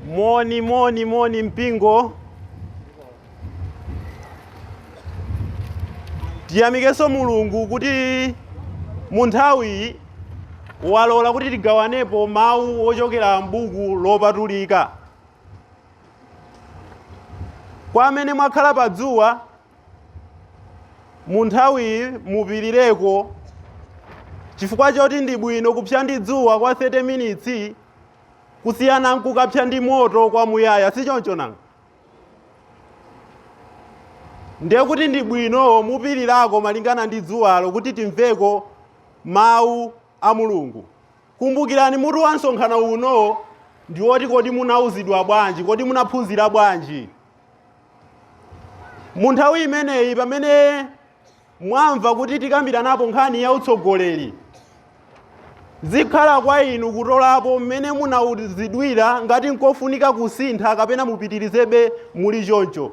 Moni, moni, moni mpingo. Tiyamikenso Mulungu kuti mu nthawiyi walola kuti tigawanepo mawu ochokera m'buku lopatulika. Kwa amene mwakhala pa dzuwa munthawiyi mupirireko chifukwa choti ndi bwino kupsa ndi dzuwa kwa 30 minutes kusiyana nkukapsa ndi moto kwa muyaya si choncho nanga ndiye kuti ndi bwino mupirirako malingana ndi dzuwalo kuti timveko mawu a mulungu kumbukirani mutu wa msonkhano uno ndi woti kodi munauzidwa bwanji kodi munaphunzira bwanji mu nthawi imeneyi pamene mwamva kuti tikambiranapo nkhani ya utsogoleri zikhala kwa inu kutolapo mmene munauzidwira ngati nkofunika kusintha kapena mupitirizebe muli choncho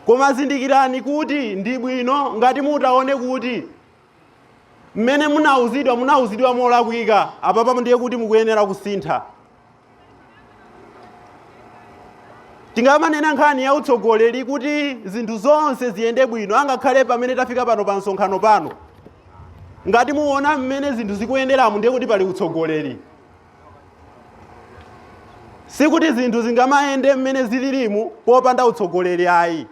koma zindikirani kuti ndi bwino ngati mutaone kuti mmene munauzidwa munauzidwa molakwika apapa ndiye kuti mukuyenera kusintha tingamanena nkhani ya utsogoleri kuti zinthu zonse ziyende bwino angakhale pamene tafika pano pa msonkhano pano ngati muona mmene zinthu zikuyenderamo ndiye kuti pali utsogoleri sikuti zinthu zingamayende mmene zililimu popanda utsogoleri ayi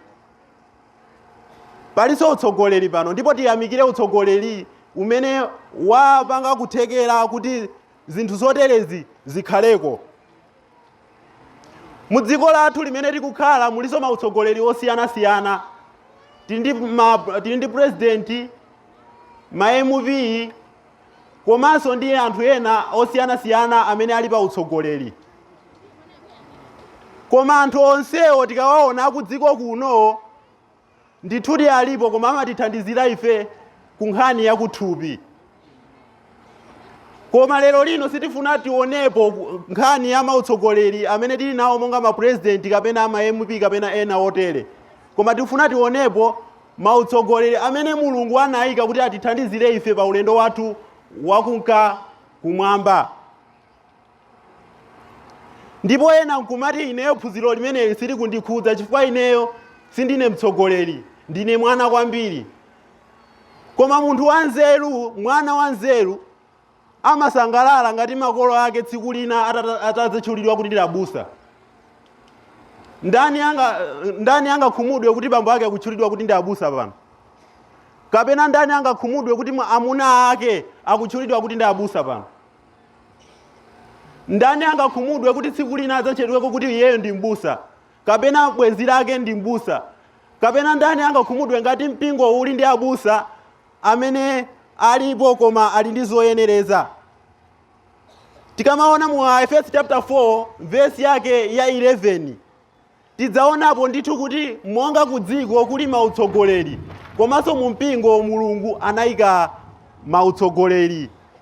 palinso utsogoleri pano ndipo tiyamikire utsogoleri umene wapanga kuthekera kuti zinthu zoterezi zikhaleko mu dziko lathu limene tikukhala mulinso mautsogoleri osiyanasiyana tili ndi president ma mp komanso ndi anthu ena osiyanasiyana amene ali pa utsogoleri koma anthu onsewo tikawaona ku dziko kuno ndithudi alipo koma amatithandizira ife ku nkhani ya kuthupi koma lero lino sitifuna tionepo nkhani ya mautsogoleri amene tili nawo monga mapresident kapena ama mp kapena ena otere koma tifuna tionepo Mautsogoleri amene Mulungu anaika kuti atithandizire ife pa ulendo wathu wakunka kumwamba. Ndipo ena nkumati ineyo phunziro limeneli silikundikhudza chifukwa ineyo sindine mtsogoleri, ndine mwana kwambiri. Koma munthu wanzeru, mwana wanzeru amasangalala ngati makolo ake tsiku lina atadzatchulidwa kuti ndi abusa ndani angakhumudwe kuti bambo ake akutchulidwa kuti ndi abusa pano kapena ndani angakhumudwe kuti amuna ake akutchulidwa kuti ndi abusa pano ndani angakhumudwe kuti tsiku lina adzatchedweko kuti iyeyo ndi mbusa kapena bwenzi lake ndi mbusa kapena ndani angakhumudwe ngati mpingo uli ndi abusa amene alipo koma ali ndi zoyenereza tikamaona mu aefeso chapter 4 vesi yake ya 11 tidzaonapo ndithu kuti monga ku dziko kuli mautsogoleri komanso mu mpingo mulungu anayika mautsogoleri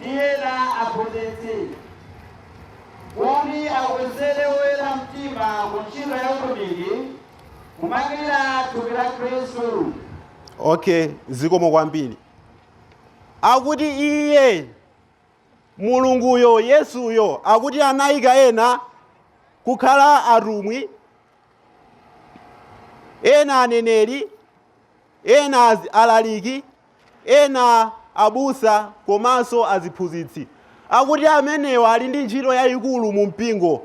ndi ena aphunzitsi kuti akonzere oyera mtima ku ntchito ya utumiki kumangirira thupi la khristu okay zikomo kwambiri akuti iye mulunguyo yesuyo akuti anayika ena kukhala atumwi ena aneneri ena alaliki Ena abusa komanso aziphunzitsi akuti amenewa ali ndi ntchito yaikulu mu mpingo.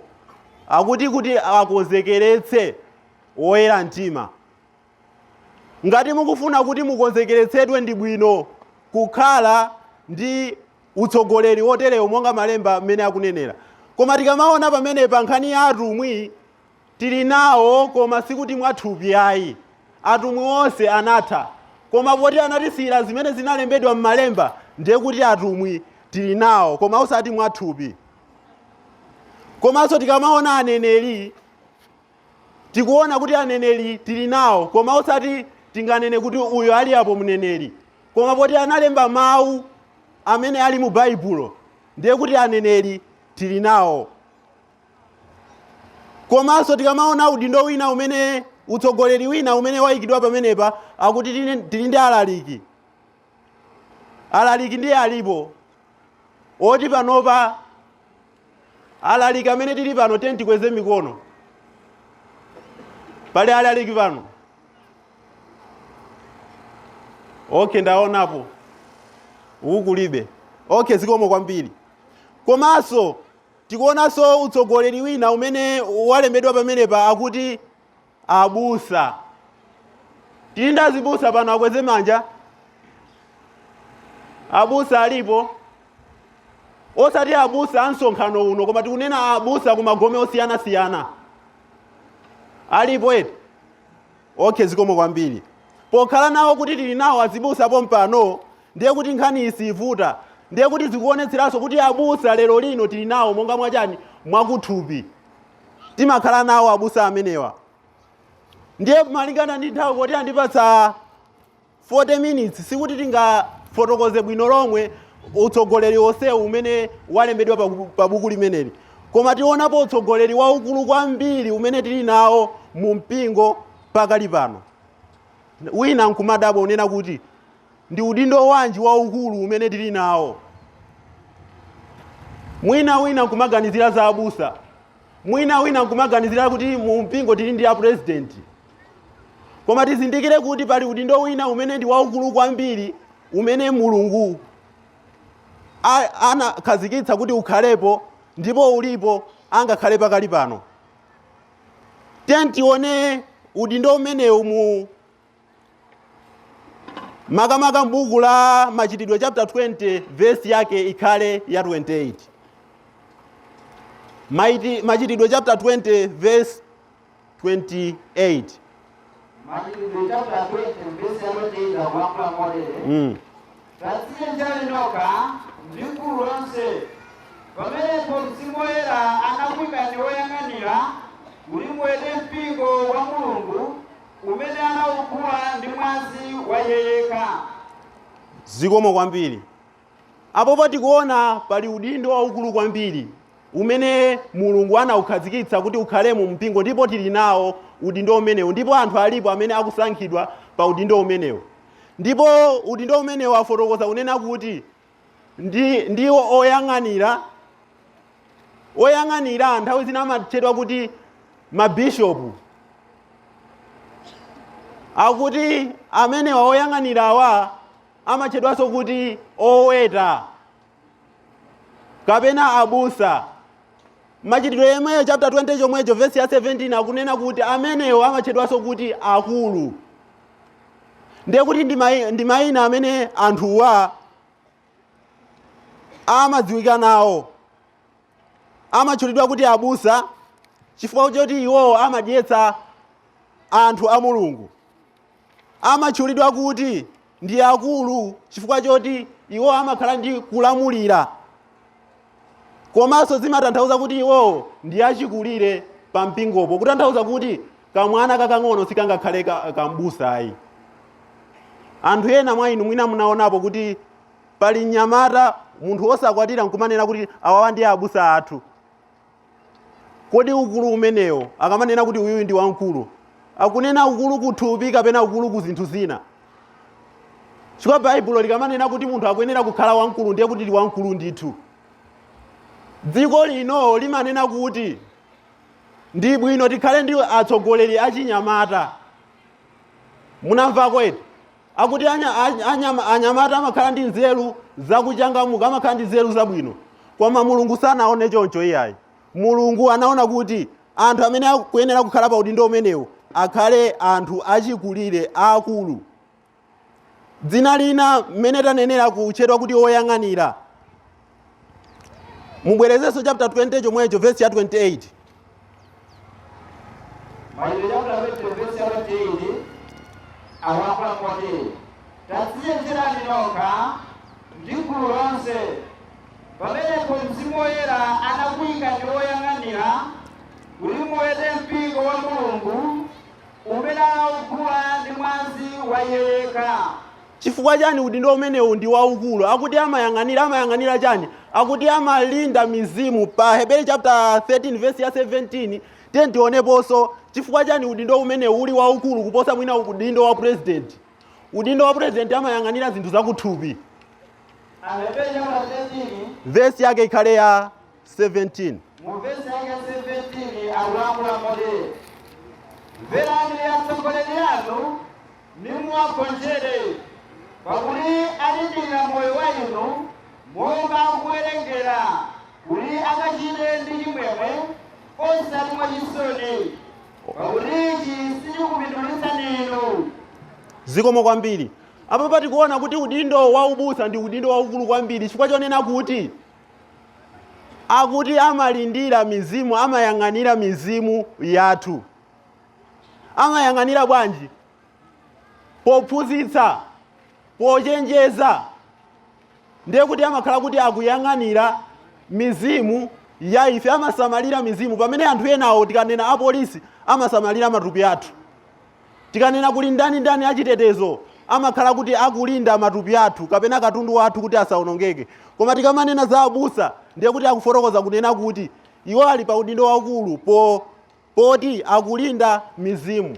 Akuti kuti akonzekeretse oyera mtima. Ngati mukufuna kuti mukonzekeretsedwe ndi bwino kukhala ndi utsogoleri woterewo monga malemba mmene akunenera. Koma tikamaona pamene pa nkhani ya atumwi, Tili nawo, koma sikuti mwathupi ayi. Atumwi onse anatha. Koma poti anatisiyira zimene zinalembedwa m'Malemba, ndiye kuti atumwi tili nawo, koma osati mwathupi. Komanso tikamaona aneneri, tikuona kuti aneneri tili nawo, koma osati tinganene kuti uyo ali apo mneneri. Koma poti analemba mawu amene ali mu Baibulo, ndiye kuti aneneri tili nawo. komanso tikamaona udindo wina umene utsogoleri wina umene wayikidwa pamenepa akuti tili ndi alaliki alaliki ndiye alipo oti panopa alaliki amene tili pano tiyeni tikweze mikono pali alaliki pano okay ndaonapo uku kulibe okay zikomo kwambiri komanso Tikuonanso utsogoleri wina umene walembedwa pamenepa akuti abusa. Tili ndi azibusa pano akweze manja. Abusa alipo? Osati abusa a msonkhano uno koma tikunena abusa ku magome osiyanasiyana. Alipo eti? Okay zikomo kwambiri. Pokhala nawo kuti tili nawo azibusa pompano ndiye kuti nkhaniyi siivuta. Ndiye kuti zikuonetseranso kuti abusa lero lino tili nawo monga mwa chani? Mwakuthupi. Timakhala nawo abusa amenewa. Ndiye malingana ndi nthawi kuti andipatsa 40 minutes sikuti tingafotokoze bwino lomwe utsogoleri onsewu umene walembedwa pa, pa buku limeneli koma tionapo utsogoleri waukulu kwambiri umene tili nawo mu mpingo pakali pano wina nkumadabwa unena kuti ndi udindo wanji waukulu umene tili nawo mwina wina nkumaganizira za abusa mwina wina nkumaganizira kuti mu mpingo tili ndi a president koma tizindikire kuti pali udindo wina umene ndi waukulu kwambiri umene mulungu a- anakhazikitsa kuti ukhalepo ndipo ulipo angakhale pakali pano tiyeni tione udindo umenewu mu makamaka mbuku la machitidwe chapter 20 vesi yake ikhale ya 28 Maiti- machitidwe chapter 20 verse 28 Machitidwe chaputala 20 vesi ya 28 akulankhula motere mm. tadzichenjerani nokha ndi gulu lonse pamenepo mzimu woyera anakuikani woyang'anira kuti muwete mpingo wa mulungu umene anaugula ndi mwazi wa iye yekha zikomo kwambiri Apopo tikuona pali udindo waukulu kwambiri umene Mulungu anaukhazikitsa kuti ukhale mu mpingo ndipo tili nawo udindo umenewu ndipo anthu alipo amene akusankhidwa pa udindo umenewu. Ndipo udindo umenewu afotokoza kunena kuti ndiwo oyang'anira oyang'anira nthawi zina amatchedwa kuti mabishopu akuti amenewa oyang'anirawa amatchedwanso kuti oweta kapena abusa machitidwe yemweyo chapter 20 chomwecho vesi ya 17 akunena kuti amenewo amatchedwanso kuti akulu ndiye kuti ndi mai- ndi mayina amene anthuwa amadziwika nawo amatchulidwa kuti abusa chifukwa choti iwowo amadyetsa anthu a mulungu amatchulidwa kuti ndi akulu chifukwa choti iwo amakhala ndi kulamulira komanso zimatanthauza kuti iwowo ndi achikulire pa mpingopo kutanthauza kuti kamwana kakang'ono sikangakhale ka- kambusayi anthu ena mwa inu mwina munaonapo kuti pali mnyamata munthu wosakwatira nkumanena kuti awawa ndi abusa athu Kodi ukulu umenewo, akamanena kuti uyu ndi wamkulu, akunena ukulu kuthupi kapena ukulu ku zinthu zina? Chifukwa Baibulo likamanena kuti munthu akuyenera kukhala wamkulu ndiye kuti ndi wamkulu ndithu. Dziko lino limanena kuti ndi bwino tikhale ndi atsogoleri achinyamata. Munamvako eti? Akuti anyamata amakhala ndi nzeru zakuchangamuka, amakhala ndi nzeru zabwino. Koma Mulungu sanaone choncho iyayi. Mulungu anaona kuti anthu amene akuyenera kukhala pa udindo umenewu akhale anthu achikulire aakulu. Dzina lina mmene tanenera kutchedwa kuti woyang'anira. mubwerezenso chapter 20 chomwecho vesi ya 28 Machitidwe chapter 20 verse ya 28 akulankhula motere tadzichenjerani nokha ndi gulu lonse pamenepo mzimu woyera anakuikani woyang'anira kuti muwete mpingo wa mulungu umene anaugula ndi mwazi wa iye yekha Chifukwa chiyani udindo umenewu ndi waukulu? Akuti amayang'anira, amayang'anira chiyani? Akuti amalinda mizimu. Pa Aheberi chaputala 13 vesi ya 17, tiyeni tioneponso chifukwa chiyani udindo umenewu uli waukulu kuposa mwina udindo wa pulezidenti. Udindo wa pulezidenti amayang'anira zinthu zakuthupi. Aheberi chaputala 13. Vesi yake ikhale ya. 17. Mu vesi yake ya 17 akulankhula motere mverani atsogoleri anu nimuwagonjere pakuti alindira moyo wa inu monga akuwerengera kuti akachite ndi chimwemwe osati mwachisoni pakuti ichi sichikupindulitsani inu zikomo kwambiri apapa tikuona kuti udindo wa ubusa ndi udindo waukulu kwambiri chifukwa chonena kuti akuti amalindira mizimu amayang'anira mizimu yathu amayang'anira bwanji pophunzitsa pochenjeza ndiye kuti amakhala kuti akuyang'anira mizimu ya ife amasamalira mizimu pamene anthu enawo tikanena apolisi amasamalira matupi athu Tikanena kuli ndani ndani achitetezo amakhala kuti akulinda matupi athu kapena katundu wathu kuti asaonongeke. Koma tikamanena za abusa ndiye kuti akufotokoza kunena kuti iwo ali pa udindo waukulu po poti akulinda mizimu.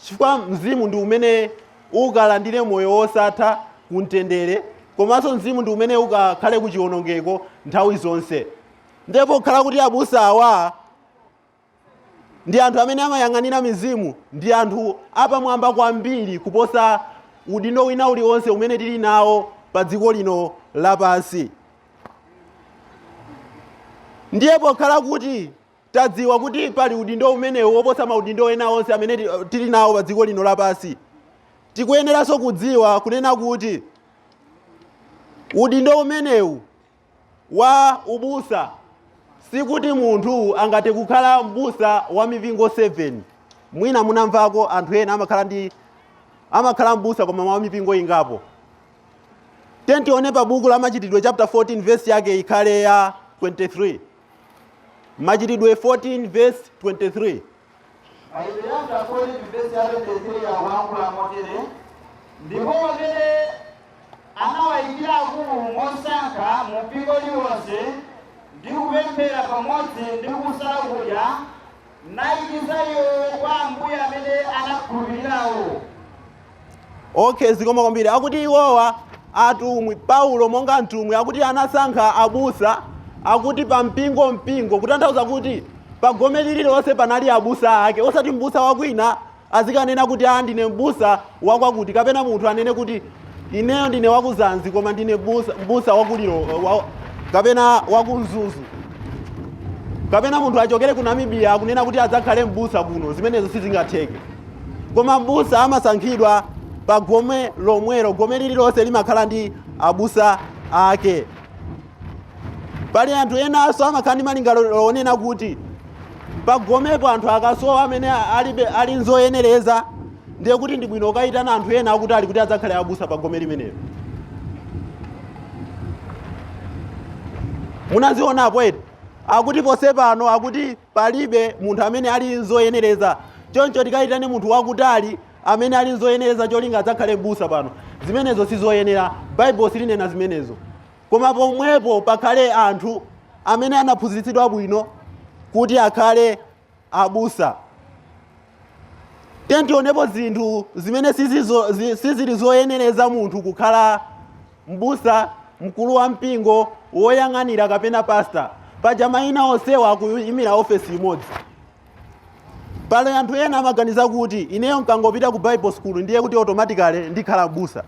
Chifukwa mzimu ndi umene ukalandire moyo wosatha ku mtendere komanso mzimu ndi umene ukakhale ku chionongeko nthawi zonse. Ndiye pokhala kuti abusa awa ndi anthu amene amayang'anira mizimu ndi anthu apamwamba kwambiri kuposa udindo wina uliwonse umene tili nawo pa dziko lino lapansi ndiye pokhala kuti tadziwa kuti pali udindo umenewu woposa maudindo ena onse amene ti- tili nawo pa dziko lino lapansi tikuyeneranso kudziwa kunena kuti udindo umenewu wa ubusa sikuti munthu angathe kukhala m'busa wa mipingo 7 mwina munamvako anthu ena amakhala ndi amakhala m'busa koma wa mipingo ingapo tiyeni tione pa buku la machitidwe chapter 14 verse yake ikhale ya 23 machitidwe 14 verse 23 Machitidwe chaputala 14 vesi ya 23 akulankhula motere, Ndipo pamene anawayikira akulu mosankha mu mpingo uliwonse, ndi kupemphera pamodzi ndi kusala kudya, anayikiza iwo kwa Ambuye amene anakhulupirirayo. okay zikomo kwambiri akuti iwowa atumwi paulo monga mtumwi akuti anasankha abusa akuti pa mpingo mpingo kutanthauza kuti pa gome lililonse panali abusa ake osati mbusa wakwina azikanena kuti a ndine mbusa wakwakuti kapena munthu anene kuti ineyo ndine waku Mzansi koma ndine busa- mbusa waku Lilongwe kapena waku Mzuzu kapena munthu achokere ku Namibia akunena kuti adzakhale mbusa kuno zimenezo sizingatheke koma m'busa amasankhidwa pa gome lomwelo gome lililonse limakhala ndi abusa ake pali anthu enanso amakhala ndi malingaliro onena kuti pagomepo anthu akasowa amene alibe ali nzoyenereza ndiye kuti ndi bwino kukayitana anthu ena akutali kuti adzakhale abusa pa gome limenelo munazionapo eti akuti ponse pano akuti Palibe munthu amene ali n'zoyenereza. Choncho tikayitane munthu wakutali amene ali n'zoyenereza cholinga adzakhale m'busa pano. Zimenezo si zoyenera. Baibulo silinena zimenezo. Koma pomwepo pakhale anthu amene anaphunzitsidwa bwino kuti akhale abusa. tiyeni tionepo zinthu zimene sizizo- zi- sizili zoyenereza munthu kukhala mbusa mkulu wa mpingo woyang'anira kapena pasta paja mayina onsewa akuyimira ofesi imodzi pali anthu ena amaganiza kuti ineyo nkangopita ku bible school ndiye kuti automatically ndikhala mbusa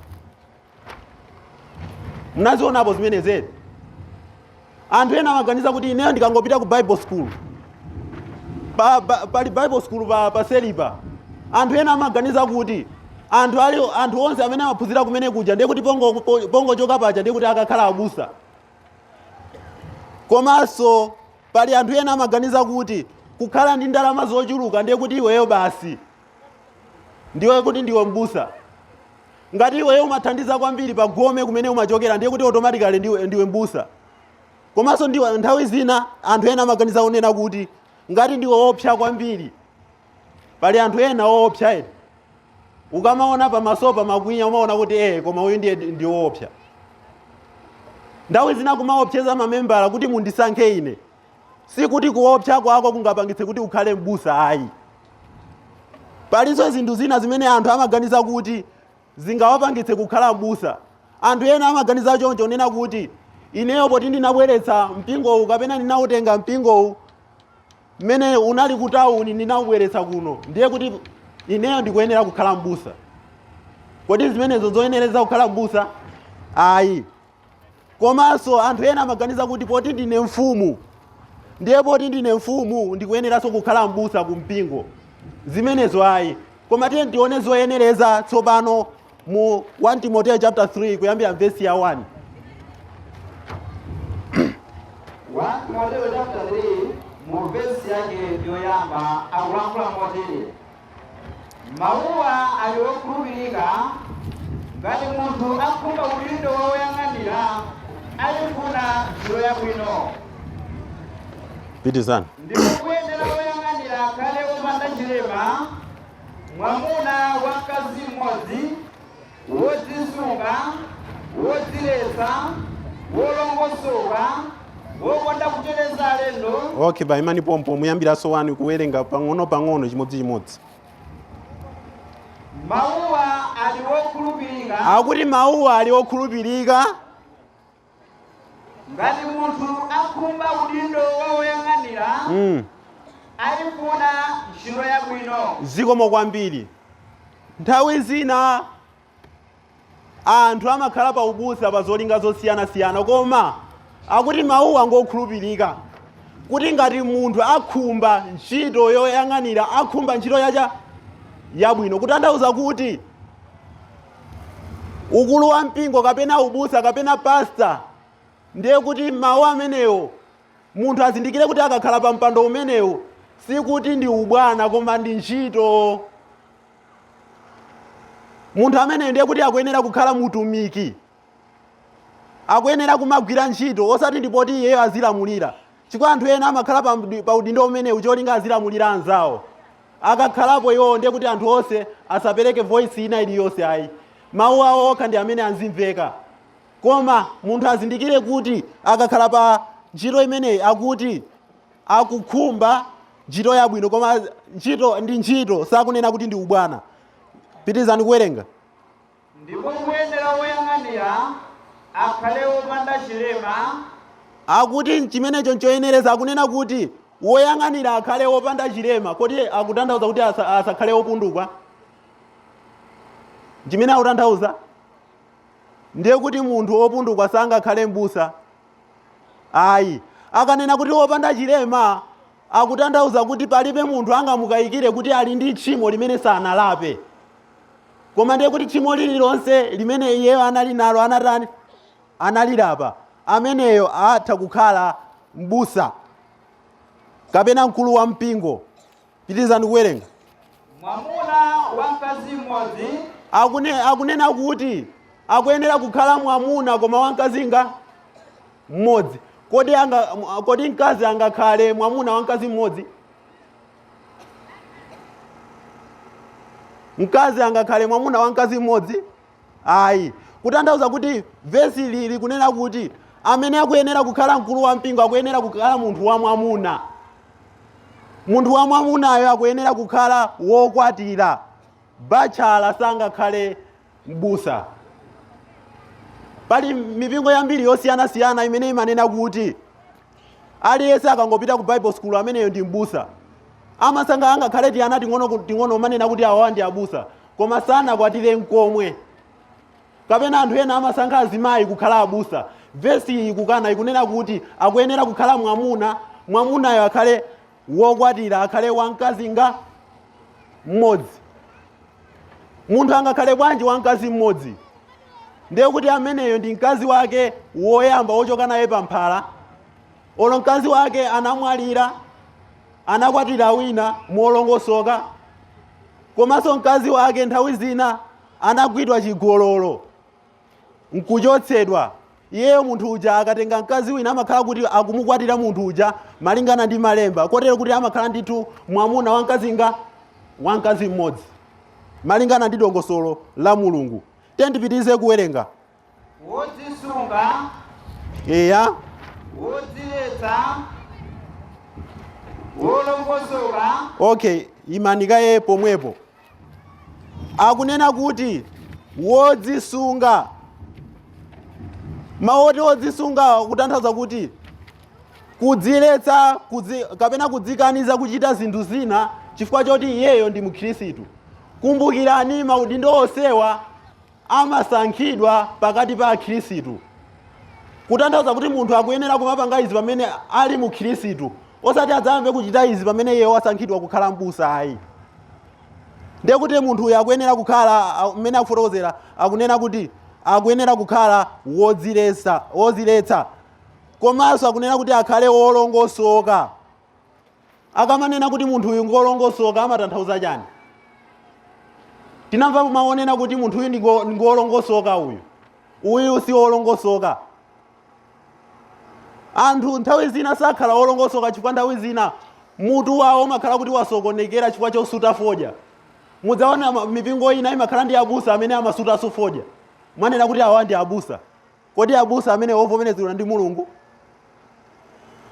munazionapo zimenezi anthu ena amaganiza kuti ineyo ndikangopita ku bible school pa, pa, pali bible school pa, pa selipa anthu ena amaganiza kuti anthu ali anthu onse amene amaphunzira kumene kuja ndiye kuti pongo- po- pongochoka paja ndiye kuti akakhala abusa komanso pali anthu ena amaganiza kuti kukhala ndi ndalama zochuluka ndiye kuti iweyo basi ndiwe kuti ndiwe mbusa ngati iweyo umathandiza kwambiri pa gome kumene umachokera ndiye kuti automatically ndiwe, ndiwe mbusa komanso ndiwe nthawi zina anthu ena amaganiza kunena kuti ngati ndiwe woopsa kwambiri pali anthu ena woopsa eti ukamaona pamaso pamakwinya umaona kuti ee koma uyu ndiye ndi woopsa nthawi zina kumaopseza mamembala kuti mundisankhe ine sikuti kuopsa kwako kungapangitse kuti ukhale m'busa ayi palinso zinthu zina zimene anthu amaganiza kuti zingawapangitse kukhala m'busa anthu ena amaganiza choncho kunena kuti ineyo poti ndinabweretsa mpingowu kapena ndinautenga mpingowu mmene unali kutawuni ndinaubweretsa kuno ndiye kuti ineyo ndikuyenera kukhala m'busa kodi zimenezo zoyenereza kukhala m'busa ayi komanso anthu ena amaganiza kuti poti ndine mfumu ndiye poti ndine mfumu ndikuyeneranso kukhala m'busa ku mpingo zimenezo ayi koma tiyeni tione zoyenereza tsopano mu 1 timoteyo chapter 3 kuyambira vesi ya 1 1 Timoteo chapter 3 mu vesi yake yoyamba akulankhula motere Mawuwa ali okhulupirika ngati munthu akhumba udindo wa woyang'anira aifuna ntchito yabwino. Pitizani. Ndipo kuyenera woyang'anira akhale wopanda chilema, mwamuna wa mkazi mmodzi. wodzisunga, wodziletsa, wolongosoka, wokonda kuchereza alendo. okay baimani pompo muyambirenso wani kuwerenga pang'ono-pang'ono chimodzichimodzi Mawuwa ali wokhulupirika akuti mawuwa ali okhulupirika ngati munthu akhumba udindo wa woyang'anira mm. ayifuna ntchito yabwino zikomo kwambiri nthawi zina anthu amakhala pa ubusa pa zolinga zosiyanasiyana koma akuti mawuwa ngokhulupirika kuti ngati munthu akhumba ntchito yoyang'anira akhumba ntchito yacha, yabwino kutanthauza kuti ukulu wa mpingo kapena ubusa kapena pasta ndiye kuti mawu amenewo munthu azindikire kuti akakhala pa mpando umenewo sikuti ndi ubwana koma ndi ntchito munthu ameneyo ndiye kuti akuyenera kukhala mutumiki akuyenera kumagwira ntchito osati ndipoti iyeyo azilamulira Chifukwa anthu ena amakhala pa mdi- pa udindo umenewu cholinga azilamulira anzawo. Akakhalapo iwowo ndiye kuti anthu onse asapereke voice ina iliyonse ayi. Mawu awo okha ndi amene azimveka. Koma munthu azindikire kuti akakhala pa ntchito imeneyi akuti akukhumba ntchito yabwino koma ntchito ndi ntchito sakunena kuti ndi ubwana. Pitizani kuwerenga. Ndipo kuyenera woyang'anira akhale wopanda chilema. Akuti chimenecho nchoyenereza, akunena kuti woyang'anira akhale wopanda chilema. Kodi akutanthauza kuti asa, asakhale wopundukwa? Chimene akutanthauza ndiye kuti munthu wopundukwa sangakhale m'busa. Ayi, akanena kuti wopanda chilema akutanthauza kuti palibe munthu angamukayikire kuti ali ndi tchimo limene sanalape koma ndiye kuti tchimo lililonse limene iyeyo anali nalo anatani analilapa ameneyo atha kukhala mbusa kapena mkulu wa mpingo pitirizani kuwerenga mwamuna wa mkazi mmodzi Akune, akunena kuti akuyenera kukhala mwamuna koma wamkazi ngati mmodzi. Kodi anga, m- kodi mkazi angakhale mwamuna wa mkazi mmodzi? Mkazi angakhale mwamuna wa mkazi mmodzi? Ayi. Kutanthauza kuti vesi ili likunena kuti amene akuyenera kukhala mkulu wa mpingo akuyenera kukhala munthu wa mwamuna. Munthu wa mwamunayo akuyenera kukhala wokwatira. Bachala sangakhale m'busa. Pali mipingo yambiri yosiyanasiyana imene imanena kuti aliyense akangopita ku bible school ameneyo ndi m'busa amasankha angakhale tiana ting'ono ku- ting'ono kumanena kuti awawa ndi abusa koma sanakwatire nkomwe kapena anthu ena amasankha azimayi kukhala abusa vesi iyi ikukana ikunena kuti akuyenera kukhala mwamuna mwamunayo akhale wokwatira akhale wamkazi ngati mmodzi munthu angakhale bwanji wamkazi mmodzi ndiye kuti ameneyo ndi mkazi wake woyamba wochoka naye pamphala olo mkazi wake anamwalira anakwatira wina molongosoka komanso mkazi wake nthawi zina anagwidwa chigololo nkuchotsedwa iyeyo munthu uja akatenga mkazi wina amakhala kuti akumukwatira munthu uja malingana ndi malemba kotero kuti amakhala ndithu mwamuna wa mkazi nga wa mkazi mmodzi malingana ndi dongosolo la mulungu tiyeni tipitirize kuwerenga wodzisunga eya wodziletsa wolongosoka okay imanikaye pomwepo akunena kuti wodzisunga mawu oti wodzisunga kutanthauza kuti kudziletsa kudzi, kapena kudzikaniza kuchita zinthu zina chifukwa choti iyeyo ndi mkhristu kumbukirani maudindo onsewa amasankhidwa pakati pa akhirisitu kutanthauza kuti munthu akuyenera kumapanga izi pamene ali mkhirisitu osati adzayambe kuchita izi pamene iye wasankhidwa kukhala mbusa ayi ndiye kuti munthu uyu akuyenera kukhala mmene akufotokozera akunena kuti akuyenera kukhala wodziletsa wodziletsa komanso akunena kuti akhale wolongosoka Akamanena kuti munthu uyu ngolongosoka amatanthauza chani? Timamva mawu onena kuti munthu uyu ndi ngo- ngolongosoka uyu. Uyu si wolongosoka. Anthu nthawi zina sakhala wolongosoka chifukwa nthawi zina mutu wawo umakhala kuti wasokonekera chifukwa chosuta fodya. Mudzaona ma- mipingo ina imakhala ndi abusa amene amasutanso fodya. Mwanena kuti awa ndi abusa. kodi abusa amene ovomerezedwa ndi mulungu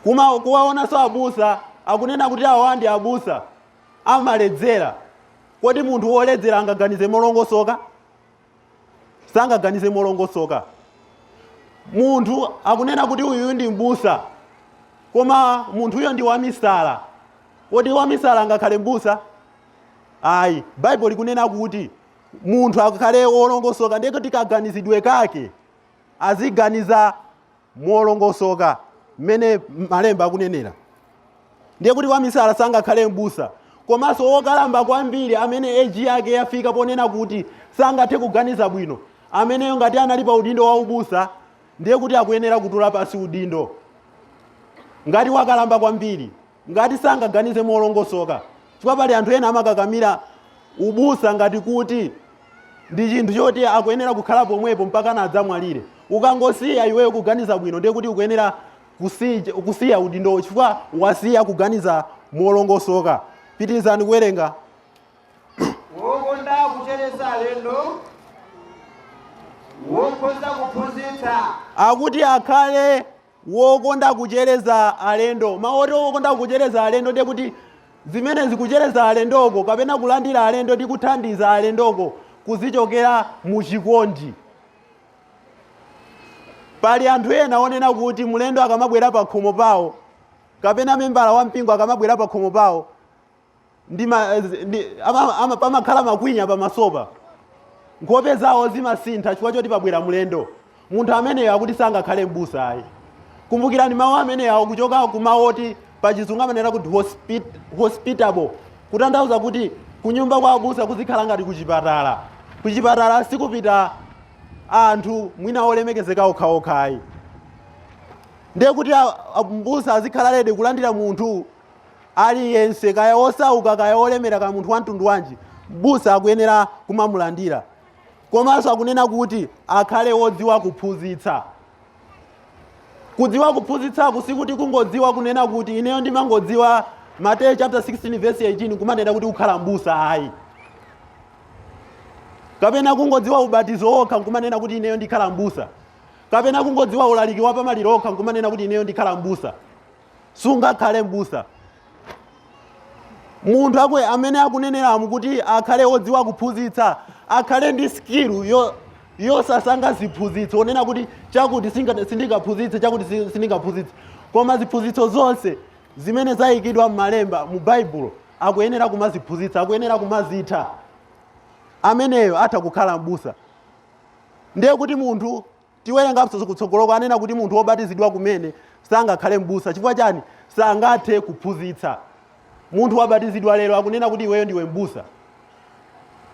kuma kuwaonanso abusa akunena kuti awa ndi abusa amaledzera kodi munthu woledzera angaganize molongosoka sangaganize molongosoka munthu akunena kuti uyuyu ndi mbusa koma munthuyo ndi wamisala kodi wamisala angakhale mbusa ayi baibulo likunena kuti munthu akhale wolongosoka ndiye kuti kaganizidwe kake aziganiza molongosoka mmene malemba akunenera ndiye kuti wamisala sangakhale mbusa komanso wokalamba kwambiri amene eji yake yafika ponena kuti sangathe kuganiza bwino ameneyo ngati anali pa udindo wa ubusa ndiye kuti akuyenera kutula pansi udindo ngati wakalamba kwambiri ngati sangaganize molongosoka, chifukwa pali anthu ena amakakamira ubusa ngati kuti ndi chinthu choti akuyenera kukhala pomwepo mpakana adzamwalire ukangosiya iweyo kuganiza bwino ndiye kuti ukuyenera kusiya, kusiya udindowo chifukwa wasiya kuganiza molongosoka pitirizani kuwerenga wokonda kuchereza alendo wokhoza kuphunzitsa akuti akhale wokonda kuchereza alendo. Mawu oti wokonda kuchereza alendo ndiye kuti zimenezi kuchereza alendoko kapena kulandira alendo ndi kuthandiza alendoko kuzichokera mu chikondi. Pali anthu ena onena kuti mlendo akamabwera pa khomo pawo kapena membala wa mpingo akamabwera pa khomo pawo ndi ma, ndi, ama, ama, pamakhala makwinya pamasopa, nkhope zawo zimasintha chifukwa choti pabwera mlendo munthu ameneyo akuti sangakhale mbusa ayi kumbukirani mawu ameneyo akuchoka ku mawu oti pachizungu amanena kuti hospit, hospitable kutanthauza kuti kunyumba kwa abusa kuzikhala ngati kuchipatala kuchipatala sikupita anthu mwina olemekezeka okhaokha ayi ndiye kuti a- a- mbusa azikhala lede kulandira munthu Aliyense, kaya wosauka, kaya wolemera, kaya munthu wamtundu wanji, m'busa akuyenera kumamulandira. Komanso akunena kuti akhale wodziwa kuphunzitsa. Kudziwa kuphunzitsaku sikuti kungodziwa kunena kuti ineyo ndimangodziwa Mateyu chapter 16 verse 18 nkumanena kuti kukhala m'busa ayi. Kapena kungodziwa ubatizo wokha nkumanena kuti ineyo ndikhala m'busa. Kapena kungodziwa ulaliki wa pamaliro okha nkumanena kuti ineyo ndikhala m'busa. sungakhale m'busa munthu akwe amene akuneneramu kuti akhale wodziwa kuphunzitsa akhale ndi skill yo yosasankha ziphunzitso onena kuti chakuti singa- sindingaphunzitse chakuti si- sindingaphunzitse koma ziphunzitso zonse zimene zayikidwa m'malemba mu baibulo akuyenera kumaziphunzitsa akuyenera kumazitha ameneyo atha kukhala m'busa ndiye kuti munthu Tiwerenga kutsogoloko anena kuti munthu wobatizidwa kumene sangakhale m'busa chifukwa chani? Sangathe kuphunzitsa. Munthu wabatizidwa lero akunena kuti iweyo ndiwe m'busa,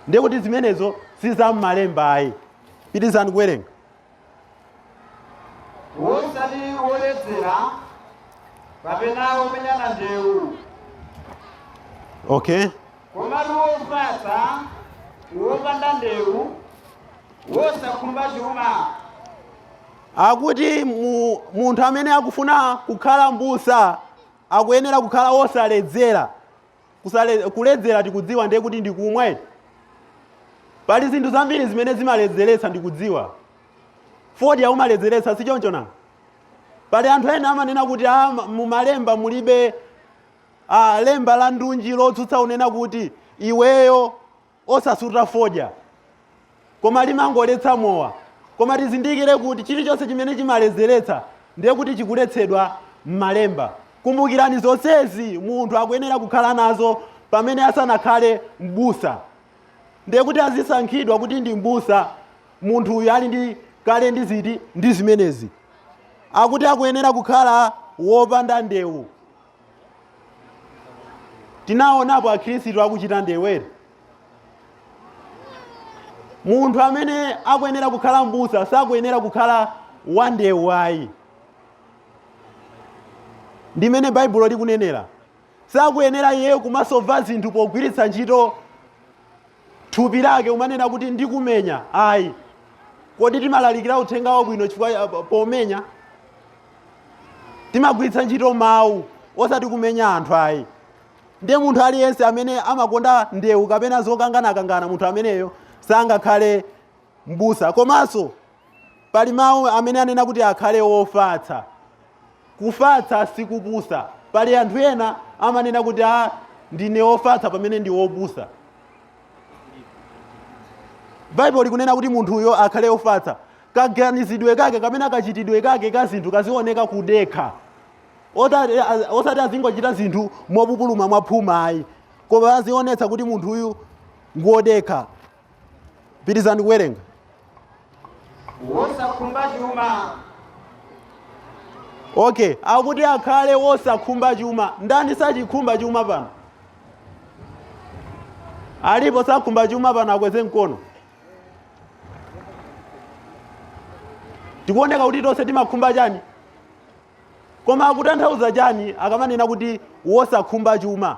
ndiye kuti zimenezo si za m'malemba ayi. Pitizani kuwerenga. Wosali woledzera kapena womenyana ndewu. Okay. Komatu wofatsa, wopanda ndewu. wosakhumba chuma. Akuti mu, munthu amene akufuna kukhala mbusa akuyenera kukhala wosaledzera. Kusale, kuledzera tikudziwa ndiye kuti ndikumwa eti. Pali zinthu zambiri zimene zimaledzeretsa ndikudziwa. Fodya umaledzeretsa si choncho nanga? Pali anthu ena amanena kuti ah, ma- mumalemba mulibe ah, lemba la ndunji lotsutsa unena kuti iweyo osasuta fodya koma limangoletsa mowa koma tizindikire kuti chilichonse chimene chimaledzeretsa ndiye kuti chikuletsedwa m'malemba kumbukirani zonsezi munthu akuyenera kukhala nazo pamene asanakhale m'busa ndiye kuti adzasankhidwa kuti ndi m'busa munthu uyu ali kale ndi zinthu zimenezi akuti akuyenera kukhala wopanda ndewu tinaonapo akhristu akuchita ndewu eti munthu amene akuyenera kukhala mbusa sakuyenera kukhala wandewu ayi ndi mmene baibulo likunenera sakuyenera iyeyo kumasova zinthu pogwiritsa ntchito thupi lake kumanena kuti ndikumenya ayi kodi timalalikira uthenga wabwino chifukwa pomenya timagwiritsa ntchito mawu osati kumenya anthu ayi ndiye munthu aliyense amene amakonda ndewu kapena zokanganakangana munthu ameneyo sangakhale mbusa komanso pali mawu amene anena kuti akhale wofatsa kufatsa sikupusa pali anthu ena amanena kuti ah, ndine wofatsa pamene ndi wopusa baibulo likunena kuti munthuyo akhale wofatsa kaganizidwe kake kapena kachitidwe kake ka zinthu kazioneka kudekha osati azingochita zinthu mopupuluma mwaphuma ayi koma azionetsa kuti munthu uyu ngodekha pitirizani kuwerenga wosakhumba chuma okay akuti akhale wosakhumba chuma ndani sachikhumba chuma pano alipo sakhumba chuma pano akweze mkono tikuoneka kuti tonse timakhumba chani koma akutanthauza chani akamanena kuti wosakhumba chuma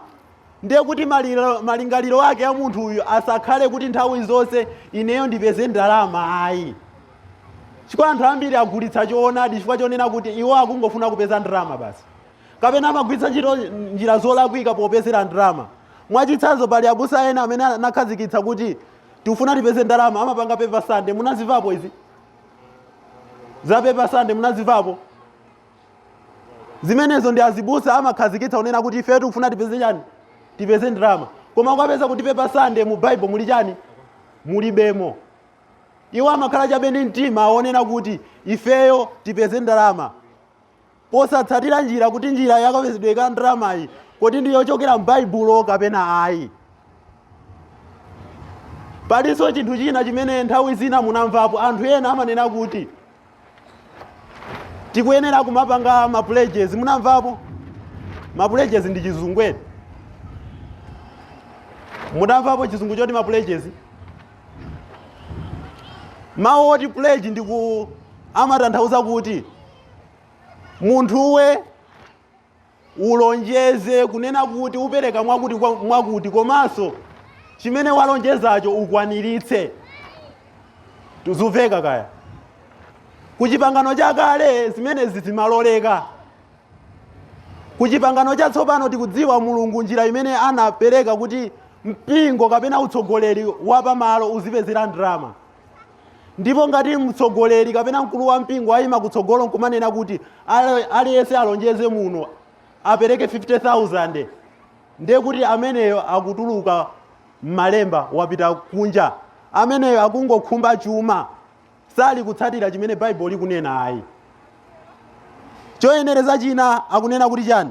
ndiye kuti malingaliro ake a munthu uyu asakhale kuti nthawi zonse ineyo ndipeze ndalama ayi chifukwa anthu ambiri agulitsa choonadi chifukwa chonena kuti iwo akungofuna kupeza ndalama basi kapena amagwiritsa ntchito njira zolakwika popezera ndalama mwachitsanzo pali abusa ena amene anakhazikitsa kuti tikufuna tipeze ndalama amapanga paper Sunday munazimvapo izi za paper Sunday munazimvapo zimenezo ndi azibusa amakhazikitsa kunena kuti ifeyo tikufuna tipeze chani tipeze ndalama koma ukapeza kuti paper Sunday mu bible muli chani mulibemo iwo amakhala chabe ndi mtima wonena kuti ifeyo tipeze ndalama posatsatira njira kuti njira ya kapezedwe ka ndalamayi kodi ndi yochokera m'baibulo kapena ayi palinso chinthu china chimene nthawi zina munamvapo anthu ena amanena kuti tikuyenera kumapanga mapuleges munamvapo mapuleges ndi chizungwere munamvapo chizungu choti mapuleges mawu oti pledge ndi ku amatanthauza kuti munthuwe ulonjeze kunena kuti upereka mwakuti mwakuti komanso chimene walonjezacho ukwaniritse tuzuveka kaya ku chipangano chakale zimenezi zimaloleka ku chipangano chatsopano tikudziwa mulungu njira imene anapereka kuti mpingo kapena utsogoleri wa pamalo uzipezera ndalama ndipo ngati mtsogoleri kapena mkulu wa mpingo ayima kutsogolo nkumanena kuti "Aliyense alonjeze muno apereke 50000 ndiye kuti ameneyo akutuluka m'malemba wapita kunja ameneyo akungokhumba chuma sali kutsatira chimene baibulo likunena ayi choyenereza china akunena kuti chani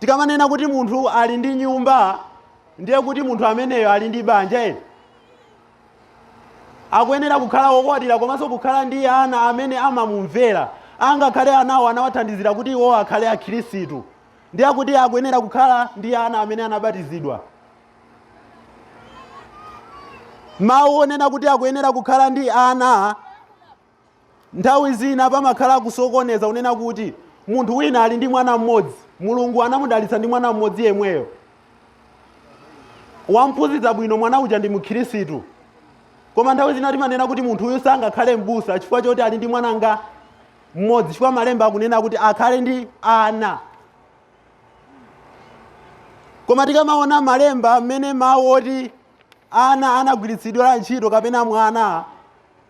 Tikamanena kuti munthu ali ndi nyumba ndiye kuti munthu ameneyo ali ndi banja eni. Akuyenera kukhala wokwatira komanso kukhala ndi ana amene amamumvera. Angakhale anawo anawathandizira kuti iwo akhale Akhristu. Ndiye kuti akuyenera kukhala ndi ana amene anabatizidwa. Mawu onena kuti akuyenera kukhala ndi ana Nthawi zina pamakhala kusokoneza kunena kuti munthu wina ali ndi mwana mmodzi, Mulungu anamudalitsa ndi mwana mmodzi yemweyo. Wamphunzitsa bwino mwana uja ndi Mkhirisitu. Koma nthawi zina timanena kuti munthu uyu sangakhale m'busa chifukwa choti ali ndi mwanangati mmodzi, chifukwa malemba akunena kuti akhale ndi ana. Koma tikamaona malemba mmene mawu oti ana anagwiritsidwira ntchito kapena mwana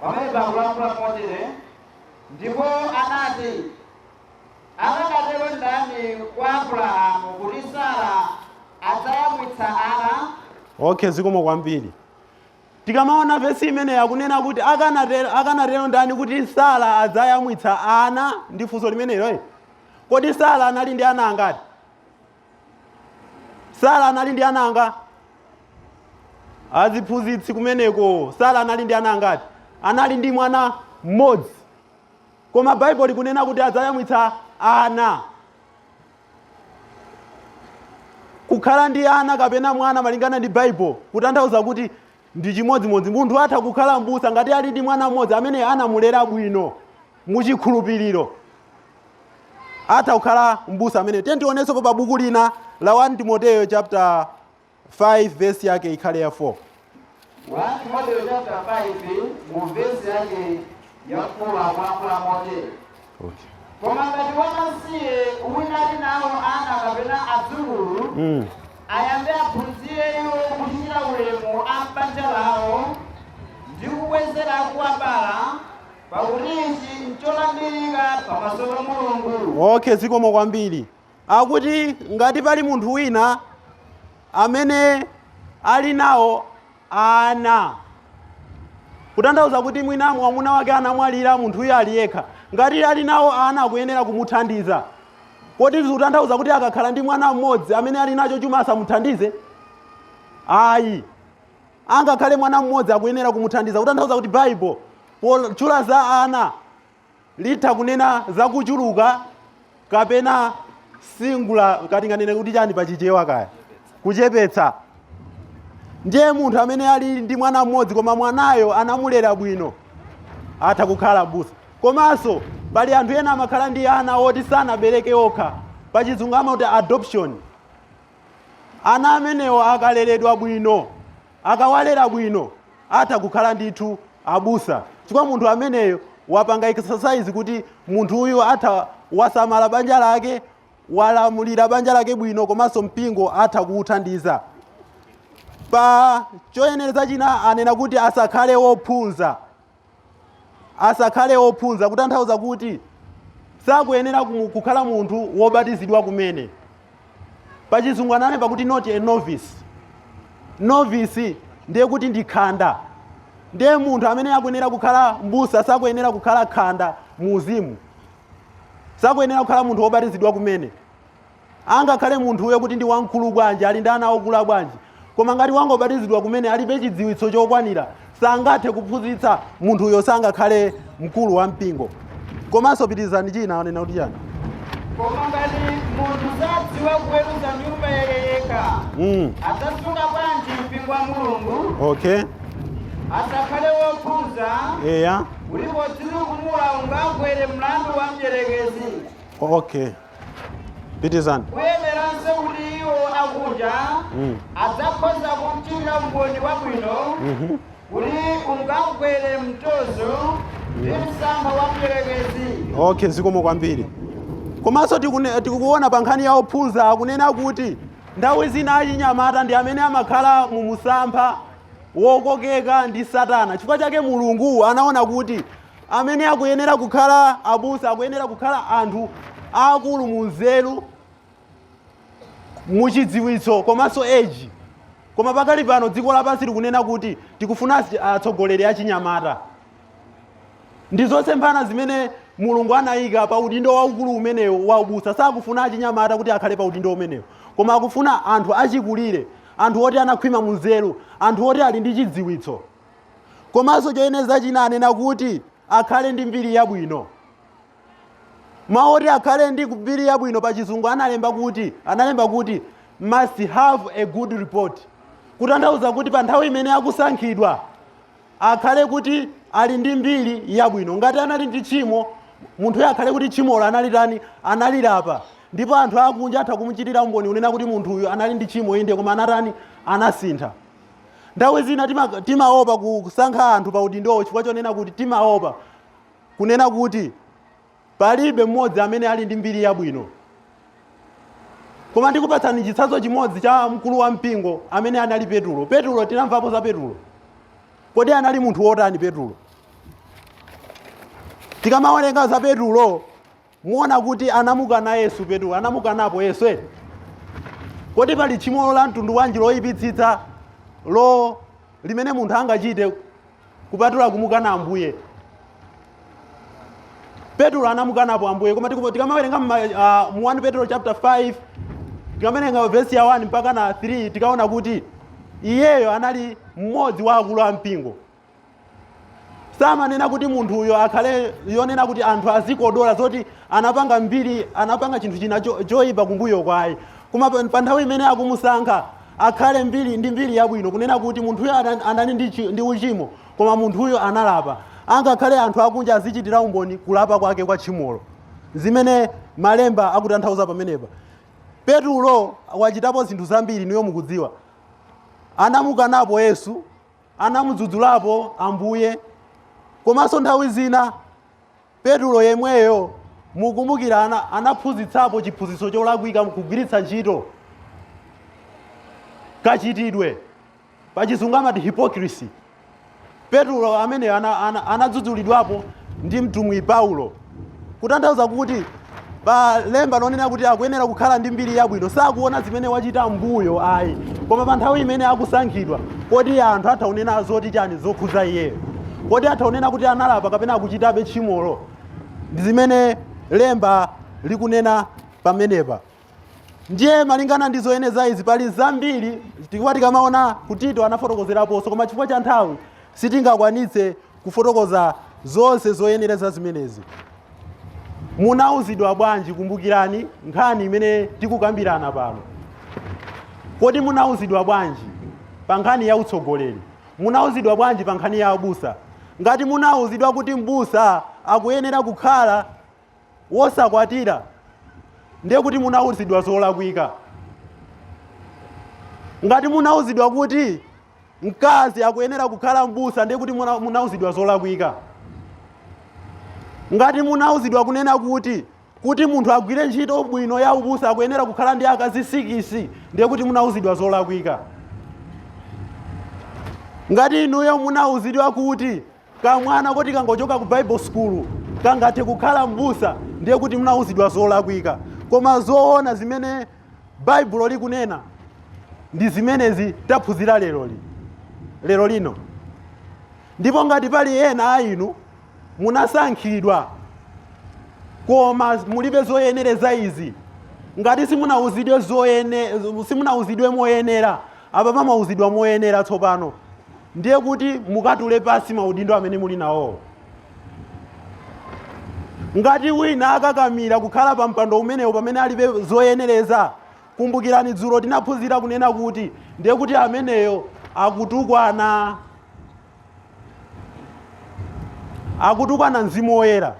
pamene pakulankhula motere ndipo anati akanatero ndani kwa abrahamu kuti sara adzayamwitsa ana okay zikomo kwambiri tikamaona vesi imeneyi akunena kuti akanatero akanatero ndani kuti sara adzayamwitsa ana ndi funso limenelo eh? kodi sara anali ndi ana angati sara anali ndi ana angati aziphunzitsi kumeneko sara anali ndi ana angati anali ndi mwana mmodzi koma baibulo likunena kuti adzayamwitsa ana kukhala ndi ana kapena mwana malingana ndi baibulo kutanthauza kuti ndi chimodzimodzi munthu atha kukhala mbusa ngati ali ndi mwana mmodzi amene anamulera bwino mu chikhulupiriro. Atha kukhala m'busa amene. Tiyeni tionensopo pa buku lina la 1 Timoteyo chapter 5 verse yake ikhale ya 4. 1 Timoteyo chapter 5 mu verse yake ya 4 akulankhula motere. Okay. Koma ngati wamasiye wina ali nawo ana kapena adzukulu Mm. ayambe aphunzire iwo kuchitira ulemu a m'banja lawo ndi kubwezera akuwabala pakuti ichi ncholandirika pamaso pa mulungu okay zikomo kwambiri akuti ngati pali munthu wina amene ali nawo ana kutanthauza kuti mwina mwamuna wake anamwalira munthuyo ali yekha ngati ali nawo ana akuyenera kumuthandiza kodi zikutanthauza kuti akakhala ndi mwana mmodzi amene ali nacho chuma asamuthandize ayi angakhale mwana mmodzi akuyenera kumuthandiza kutanthauza kuti baibulo potchula za ana litha kunena zakuchuluka kapena singular kaya nganene kuti chani pachichewa kaya kuchepetsa ndiye munthu amene ali ndi mwana mmodzi koma mwanayo anamulera bwino atha kukhala mbusa komanso pali anthu ena amakhala ndi ana oti sanabereke okha pachizungu amati adoption Ana amenewo akaleredwa bwino, akawalera bwino atha kukhala ndithu abusa chifukwa munthu ameneyo wapanga exercise kuti munthu uyu atha wasamala banja lake walamulira banja lake bwino komanso mpingo atha kuwuthandiza pa choyenereza china anena kuti asakhale wophunza asakhale ophunza kutanthauza kuti sakuyenera kukhala munthu wobatizidwa kumene pachizungu ananena kuti not a novice novice ndiye kuti ndi khanda ndiye munthu amene akuyenera kukhala mbusa sakuyenera kukhala khanda mu uzimu sakuyenera kukhala munthu wobatizidwa kumene Angakhale munthuyo kuti ndi wamkulu bwanji, ali ndi ana okula bwanji, koma ngati wangobatizidwa kumene, alibe chidziwitso chokwanira, sangathe kuphunzitsa, munthuyo sangakhale mkulu wa mpingo. Komanso pitirizani china, anena kuti chani? Koma ngati munthu sadziwa kuweruza nyumba yake yekha, Mm, adzasunga bwanji mpingo wa Mulungu? okay. Asakhale wophunza, Eya. kuti podzitukumula ungagwere mlandu wa mdyerekezi. Okay. pitizani kuyeneranso kuti iwo akunja adzakhoza kumchitira umboni wabwino kuti angagwere mtonzo ndi msampha wa mdierekezi okay zikomo kwambiri komanso tikune- tikuona pa nkhani ya ophunza akunena kuti nthawi zina achinyamata ndi amene amakhala mu msampha wokokeka ndi satana chifukwa chake mulungu anaona kuti amene akuyenera kukhala abusa akuyenera kukhala anthu aakulu mu nzeru mu chidziwitso komanso age koma pakali pano dziko lapansi likunena kuti tikufuna asi- atsogoleri achinyamata ndi zosemphana zimene mulungu anayika pa udindo waukulu umenewu wa ubusa sakufuna achinyamata kuti akhale pa udindo umenewu koma akufuna anthu achikulire anthu oti anakhwima mu nzeru anthu oti ali ndi chidziwitso komanso choyenereza china anena kuti akhale ndi mbiri yabwino mawu oti akhale ndi mbiri yabwino pa chizungu analemba kuti analemba kuti must have a good report kutanthauza kuti pa nthawi imene akusankhidwa akhale kuti ali ndi mbiri yabwino ngati anali ndi tchimo munthuyo akhale kuti tchimolo anali tani analilapa ndipo anthu akunja atha kumuchitira umboni kunena kuti munthuyu anali ndi tchimo inde koma anatani anasintha Nthawi zina tima- timaopa kusankha anthu pa udindowo chifukwa chonena kuti timaopa kunena kuti palibe mmodzi amene ali ndi mbiri yabwino. Koma ndikupatsani chitsanzo chimodzi cha mkulu wa mpingo amene anali Petulo. Petulo tinamvapo za Petulo. Kodi anali munthu wotani Petulo? Tikamawerenga za Petulo muona kuti anamukana yesu petulo anamukanapo yesu eti kodi pali tchimo la mtundu wanji loyipitsitsa lo limene munthu angachite kupatula kumukana ambuye petulo anamukanapo ambuye koma tiku- tikamawerenga mma- ah, mu 1 petulo chapter 5 tikamawerenga vesi ya 1 mpaka na 3 tikaona kuti iyeyo anali mmodzi wa akulu a mpingo samanena kuti munthuyo akhale yonena kuti anthu azikodola zoti anapanga mbiri anapanga chinthu china cho- choyipa kumbuyo kwayi koma pa pa nthawi imene akumusankha akhale mbiri ndi mbiri yabwino kunena kuti munthuyo ana- anali ndi chi- ndi uchimo koma munthuyo analapa angakhale anthu akunja azichitira umboni kulapa kwake kwa tchimolo zimene malemba akutanthauza pamenepa petulo wachitapo zinthu zambiri inuyo mukudziwa anamukanapo yesu anamudzudzulapo Ambuye. Komanso nthawi zina Petulo yemweyo mukumbukira ana, anaphunzitsapo chiphunzitso cholakwika mkugwiritsa ntchito kachitidwe pachizungu amati hypocrisy. Petulo ameneyo ana- ana- anadzudzulidwapo ndi mtumwi Paulo. kutanthauza kuti pa lemba lonena kuti akuyenera kukhala ndi mbiri yabwino sakuona zimene wachita mbuyo ayi koma pa nthawi imene akusankhidwa kodi anthu atha kunena zoti chani zokhuza iyeyo kodi atha kunena kuti analapa kapena akuchitabe tchimolo zimene lemba likunena pamenepa ndiye malingana ndi zoyeneza izi pali zambiri tikuwa tikamaona ku tito anafotokozeraponso koma chifukwa cha nthawi sitingakwanitse kufotokoza zonse zoyenereza zimenezi munauzidwa bwanji kumbukirani nkhani imene tikukambirana pano kodi munauzidwa bwanji pa nkhani ya utsogoleri munauzidwa bwanji pa nkhani ya abusa ngati munauzidwa kuti mbusa akuyenera kukhala wosakwatira ndiye kuti munauzidwa zolakwika ngati munauzidwa kuti mkazi akuyenera kukhala mbusa ndiye kuti muna- munauzidwa zolakwika ngati munauzidwa kunena kuti kuti munthu agwire ntchito bwino ya ubusa akuyenera kukhala ndi akazi sikisi ndiye kuti munauzidwa zolakwika ngati inuyo munauzidwa kuti Kamwana koti kangochoka ku Bible school kangathe kukhala m'busa ndiye kuti munawuzidwa zolakwika. Koma zoona zimene Baibulo likunena ndi zimenezi taphunzira lero li lero lino. Ndipo ngati pali ena a inu munasankhidwa koma mulibe zoyenereza izi, ngati simunawuzidwe zoyene simunawuzidwe moyenera Apapa mwauzidwa moyenera tsopano ndiye kuti mukatule pansi maudindo amene muli nawowo. Ngati wina akakamira kukhala pa mpando umenewu pamene alibe zoyenereza, kumbukirani dzulo tinaphunzira kunena kuti ndiye kuti ameneyo akutukwana. akutukwana mzimu woyera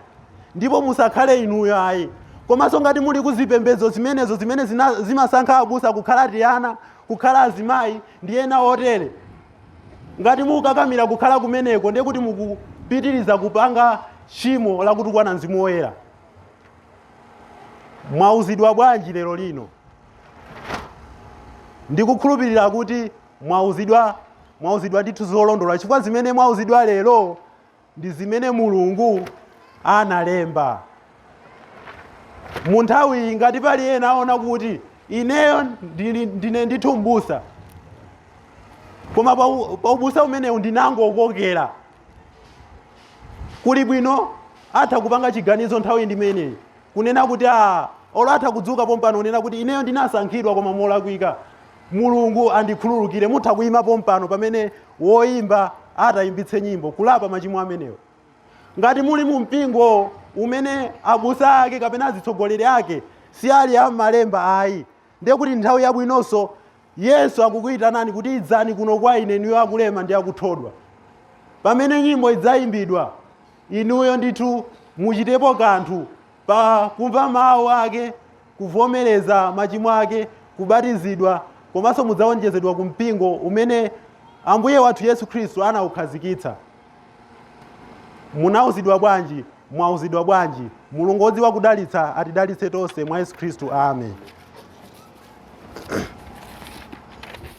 ndipo musakhale inuyo ayi komanso ngati muli kuzipembedzo zimenezo zimene zina- zimasankha abusa kukhala tiana kukhala azimayi ndi ena otere ngati mukukakamira kukhala kumeneko ndiye kuti mukupitiriza kupanga tchimo la kutukwana mzimu woyera mwauzidwa bwanji lero lino ndikukhulupirira kuti mwauzidwa mwauzidwa ndithu zolondola chifukwa zimene mwauzidwa lero ndi zimene mulungu analemba mu nthawiyi ngati pali ena aona kuti ineyo ndili- ndine ndithu mbusa koma pa u- pa ubusa umenewu ndinangokokera kuli bwino atha kupanga chiganizo nthawi ndimeneyi kunena kuti a olo atha kudzuka pompano kunena kuti ineyo ndinasankhidwa koma molakwika Mulungu andikhululukire, mutha kuima pompano pamene woyimba ati ayimbitse nyimbo, kulapa machimo amenewo. Ngati muli mu mpingo umene abusa ake kapena azitsogoleri ake si ali a m'malemba ayi, ndiye kuti nthawi yabwinonso. Yesu akukuitanani kuti idzani kuno kwa ine inuyo akulema ndi akuthodwa. Pamene nyimbo idzayimbidwa, inuyo ndithu muchitepo kanthu pa kumva mawu ake kuvomereza machimo ake, kubatizidwa, komanso mudzawonjezedwa ku mpingo umene Ambuye wathu Yesu Khristu anawukhazikitsa. Munauzidwa bwanji? Mwauzidwa bwanji? Mulungu wodziwa kudalitsa atidalitse tonse mwa Yesu Khristu. Amen.